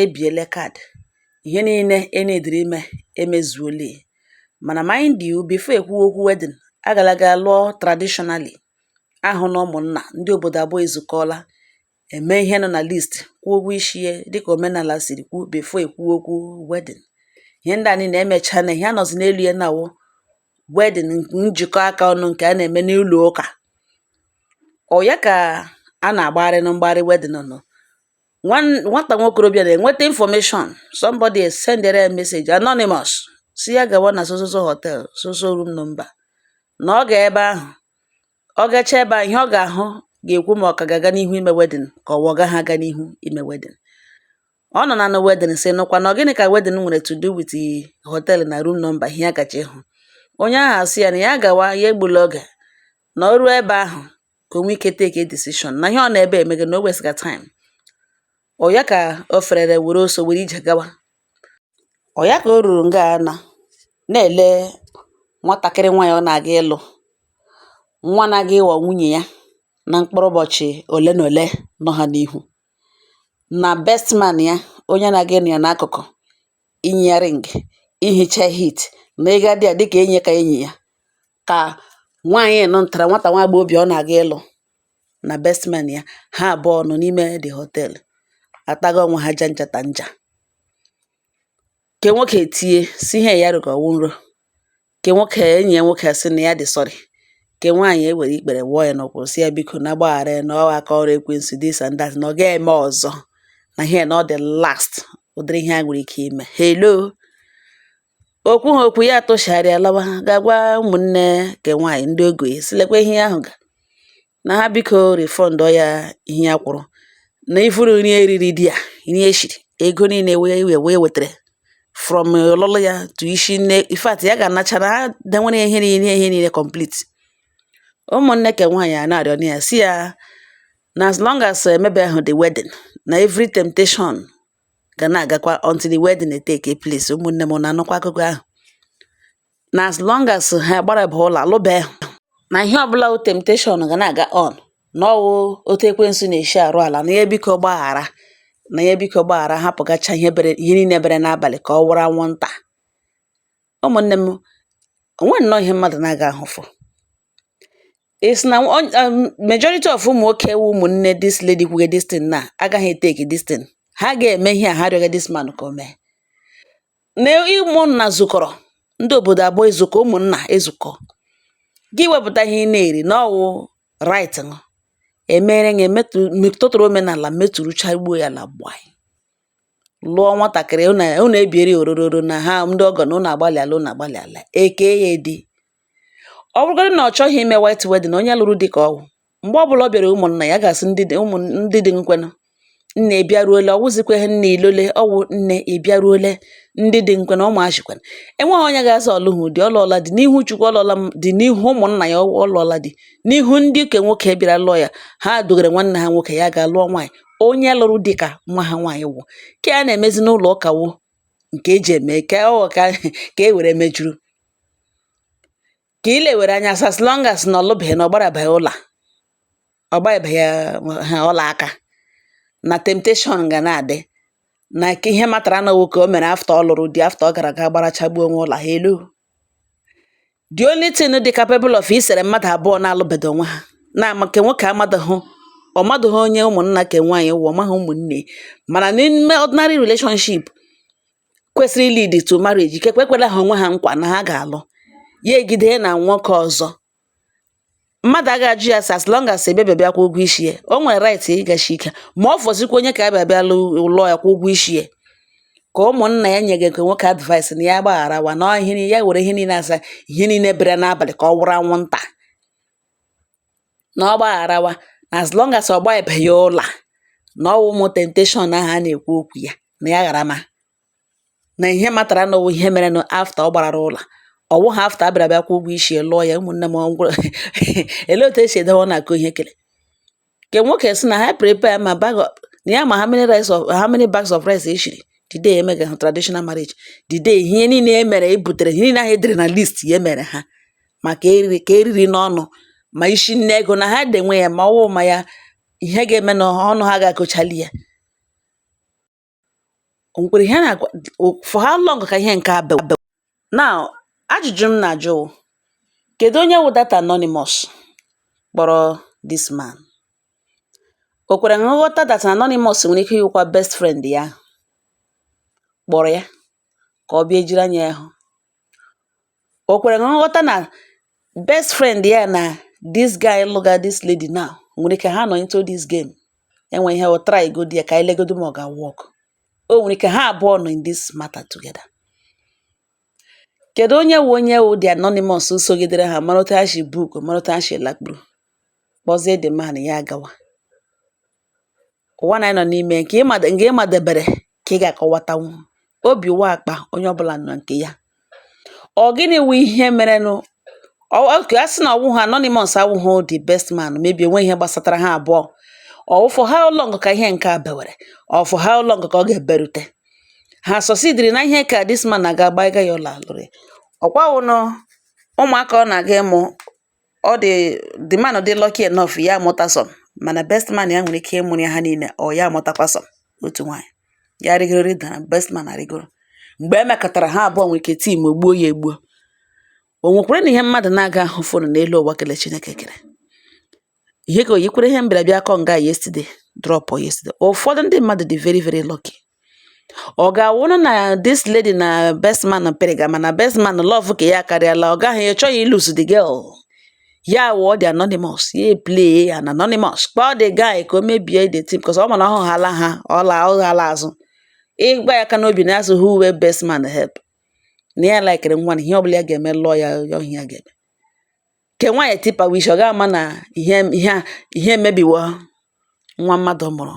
ebiele card ihe niile e needịrị ime emezuole mana mind you before ekwuwe okwu wedding agala gaa lụọ traditionally a hụ na ụmụnna ndị obodo abụọ ezukọọla eme ihe nọ na list kwụọ ụgwọ isi ya dịka omenala siri kwuo before ekwuwe okwu wedding ihe ndị a niile emecha na ihe a nọzi n'elu ya na-awụ wedding njikọ aka ọnụ nke a na-eme n'ụlọ ụka ọ ya ka a na-agbagharị na mgbagharị wedding nọ nwata nwokorobịa na-enweta information somebody sendere ya message anonymous sị ya gawa na sososo hotel soso room number na ọ ga ebe ahụ ọ gacha ebe ahụ ihe ọ ga-ahụ ga-ekwu ma ọ ka ga-aga n'ihu ime wedding ka ọ gaha aga n'ihu ime wedding ọ nọ na na wedding sị nụkwa na gịnị ka wedding nwere to do with hotel na room number ihe ya gacha ịhụ onye ahụ asị ya na ya gawa ya egbula oge na o ruo ebe ahụ ka o nwee ike take a decision na ihe ọ nọ ebe a emega na o wastega time ọ ya ka o ferere were ọsọ were ije gawa ọ ya ka o ruru nga a na na-ele nwatakịrị nwaanyị ọ na-aga ịlụ nwa na-aga ịghọ nwunye ya na mkpụrụ ụbọchị ole na ole nọ ha n'ihu na best man ya onye na-aga ịnọ ya n'akụkụ inye ya ring ihicha heat na ịguide ya dịka enyi ka enyi ya ka nwaanyị nọ ntara nwata nwa agbọghọbịa ọ na-aga ịlụ na best man ya ha abụọ nọ n'ime the hotel ataga onwe ha janja ta nja ke nwoke etie sị ihe ya hụga ọ wụ nrọ Ke nwoke enyi ya nwoke sị na ya dị sorry. Ke nwaanyị ewere ikpere wụọ ya n'ụkwụ sị ya biko na gbaghara ya na ọ aka ọrụ ekwensu this and that na ọ ga-eme ọzọ na ihe na ọ the last ụdịrị ihe a nwere ike ime. Hello! O kwuha okwu ya atụchigharịa lawa gaa gwa ụmụnne ke nwaanyị ndị ogo ya sị lekwa ihe ya hụga na ha biko refundọ ya ihe ya kwụrụ na even nri e riri there nri e shiri ego niile wee wee wee wetara from ọlụlụ ya to isi nne in fact ya ga-anacha na ha denwere ya ihe niile ihe niile complete ụmụnne ke nwaanyị a na-arịọ na ya sị ya na as long as emebehụ the wedding na every temptation ga na-agakwa until the wedding take place ụmụnne m na-anụkwa akụkọ ahụ na as long as ha gbara abụọ alụbeghị na ihe ọbụla wụ temptation ga na-aga on na ọ wụ otu ekwensu na-esi arụ ala na ya biko gbaghara na ya biko gbaghara hapụgacha ihe bere ihe niile bere n'abalị ka ọ wụrụ anwụnta ụmụnne m o nwe nnọọ ihe mmadụ na-aga ahụfụ is na um, majority of ụmụ nwoke wu ụmụnne this lady kwuge this thing na agaghị etake this thing ha ga-eme ihe a ha rịọga this man ka o mee na ụmụnna zukọrọ ndị obodo abụọ ezukọ ụmụnna ezukọ gị wepụta ihe ị na-eri na ọwụ right ṅụ emere gị metụtụrụ omenala meturucha gbuo ya la gbaa lụọ nwatakịrị unu ebieri orororo na ha ndị ọgọ na unu agbalịala unu agbalịala eke ya di ọ bụrụgodị na ọ chọghị ime white wedding onye lụrụ di ka ọwụ mgbe ọbụla ọ bịara ụmụnna ya ga-asị ndị di ụmụ ndị di m kwenụ nne ị bịaruole ọ wụzikwa ihe nne ị lọle ọ wụ nne ị bịaruole ndị di m kwenụ ụmụ achị kwenụ enweghị onye ga-asị ọ lụghị di ọ lụọla di n'ihu chukwu ọ lụọla di n'ihu ụmụnna ya ọ lụọla di n'ihu ndị ke nwoke bịara lụọ ya ha dogara nwanne ha nwoke ya ga lụọ nwaanyị onye lụrụ di ka nwa ha nwaanyị wụ ke a na-emezi n'ụlọ ụka wụ nke eji eme ka ọ ka ka e were mejuru ka i lewere anya as as long as na ọ lụbeghị na ọ gbarabeghị ọla ọ gbabeghị ha ọla aka na temptation ga na-adị na ka ihe matara na ọ wụ ke o mere after ọ lụrụ di after ọ gara ga gbarachagbuo onwe ọla hello the only thing dị capable of isere mmadụ abụọ na-alụbedo onwe ha na nke nwoke amadụghị ọ madụghị onye ụmụnna ke nwaanyị wụ ọ maghị ụmụnne mana n'ime ordinary relationship kwesịrị ilidi to marriage ikekwe ekwela ha onwe ha nkwa na ha ga-alụ ya egide na nwoke ọzọ mmadụ agaghị ajụ ya sị as long as a bịabeghị bịa kwụọ ụgwọ isi ya o nwere right ịgashi ike ma ọ fọzikwa onye ka abịa bịa lụọ ya kwụọ ụgwọ isi ya ka ụmụnna ya nyega nke nwoke advice na ya gbagharawa na ihe ya were ihe niile asa ihe niile bere n'abalị ka ọ wụrụ anwụnta na ọ gbagharawa na as long as ọ gbabeghị ọla, na ọ wụ ụmụ temptation ahụ a na-ekwu okwu ya na ya gharama. Na ihe matara na ọ wụ ihe merenụ after ọ gbarara ọla. Ọ wụghị after a bịara bịa kwụọ ụgwọ isi ya, lụọ ya. Ụmụnne m ọ ngwụrụ olee otu e si edewe ọnụ akọ ihe kere? Nke nwoke sị na ha prepare ma bag of na ya ma how many rice of how many bags of rice e shiri the day e mega ha traditional marriage. The day ihe niile e mere e butere ihe niile ahụ e dere na list ya e mere ha. ma ke e riri ke e riri n'ọnụ ma isi nne ego na ha denwe ya ma ọwụ ma ya ihe ga-eme na ọnụ ha ga-akọchali ya o nwekwara ihe a na-agwa for how long ka ihe nke a bewe now ajụjụ m na-ajụ wụ, kedu onye wụ that anonymous kpọrọ this man o kwere nghọta that anonymous nwere ike ịwụkwa best friend ya kpọrọ ya ka ọ bịa ejiri anya ya hụ. O kwere nghọta na best friend ya na this guy lụga this lady now nwere ike ha nọ into this game, e nwee ihe o try godu ya ka anyị legodu ma ọ ga work. O nwere ike ha abụọ nọ in this matter together. Kedụ onye wụ onye wụ the anonymous sogidere ha mara otu ha si book, mara otu ha si lakpuru, kpọzie the man ya agawa. ụwa na anyị nọ n'ime nke ị madebere ka ị ga-akọwatanwu obi wụ akpa onye ọbụla nya nke ya ọ gịnị wụ ihe merenụ oke a sị na ọ wụ ha anonymous awụghụ the best man maybe e nwe ihe gbasatara ha abụọ ọ wụ for how long ka ihe nke a bewere ọ for how long ka ọ ga-eberute ha succeediri na ihe ka this man na-aga gbaiga ya ụlọ alụrị ọ kwanụ ụmụaka ọ na-aga ịmụ ọ dị the man dị lucky enough ya amụta some mana best man ya nwere ike ịmụrụ ya ha niile or ya amụtakwa some otu nwaanyị ya rịgoro rịda best man arịgoro mgbe e mekatara ha abụọ nwere ike team up gbuo ya egbuo o nwekwaranụ ihe mmadụ na-aga ahụfọnụ n'elu ụwa kele Chineke kere ihe ka o yikwere ihe m bịara bịa akọ nga yesterday drop yesterday ụfọdụ ndị mmadụ dị very very lucky ọ ga-awụrụ na this lady na best man pịrịga mana best man love ke ya akarịala ọ gaghị ị chọghị ilose the girl ya wụọ the anonymous ya play an anonymous kpọọ the guy ka o mebie the thing because ọ ma na ọ hụhala ha ọla ọ ga-ala azụ ịgba ya aka n'obi na-asị who wey best man help na ya laikere nwa na ihe ọbụla ya ga-eme lụọ ya ya ihe ya ga-eme ke nwaanyị tipa wish ọ ga-ama na ihe ihe a ihe emebiwo nwa mmadụ mụrụ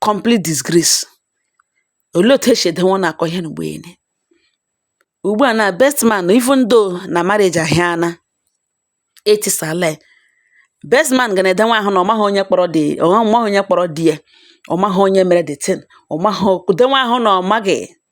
complete disgrace. Olee otu e si edenwe ụnụ akọ ihe na mgbe niile? Ugbu a na best man even though na marriage ahịana etisala, best man ga na-edenwe ahụ na ọ maghị onye kpọrọ di ya, ọ maghị onye mere the thing, ọ maghị denwe ahụ na ọ maghị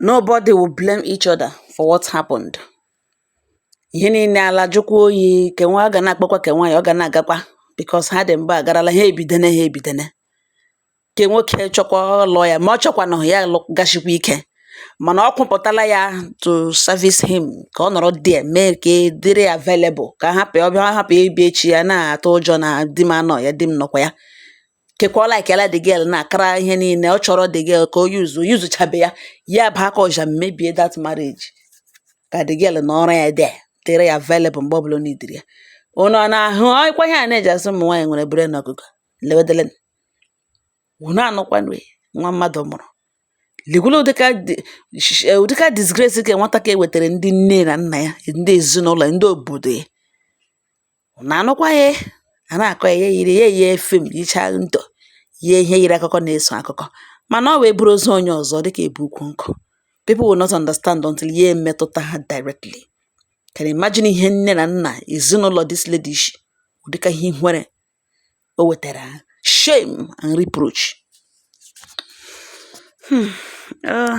Nobody will blame each other for what happened. Ihe niile ala jụkwa oyi ke nwa ọ ga na-akpakwa ke nwaanyị ọ ga na-agakwa because ha dị mba agarala ha ebidene ha ebidene ke nwoke chọkwa lụọ ya ma ọ chọkwanụ ya lụ- gashikwa ike mana ọ kwụpụtala ya to service him ka ọ nọrọ there mee ka e dịrị available ka hapụ ịbịa echi ya na-atụ ụjọ na di m anọ ya di m nọkwa ya kekwa ọ laikela the girl na-akara ihe niile ọ chọrọ the girl ka o yuzu yuzuchabe ya ya bụ aka ọja mebie that marriage ka the girl nọrọ ya there dịrị ya available mgbe ọbụla needịrị ya ụnụ ana-ahụ ọkwa ihe a na-eji asị ụmụ nwaanyị nwere brain ọkụkọ lewedele ụnụ anụkwanụ nwa mmadụ mụrụ ligwula ụdịka ụdịka disgrace ke nwata ka wetara ndị nne na nna ya ndị ezinụlọ ndị obodo ya Unu anụkwa ihe a na-akọ ya, ya eyiri ya eyie film yichaa ntọ yie ihe yiri akụkọ na-eso akụkọ mana ọ wụ e buru ozu onye ọzọ dịka e bu ukwu nkụ. People will not understand until ya emetụta ha directly. Can you imagine ihe nne na nna ezinụlọ this lady shi ụdịka ihe ihere o wetara ha shame and reproach. Hmm. Uh.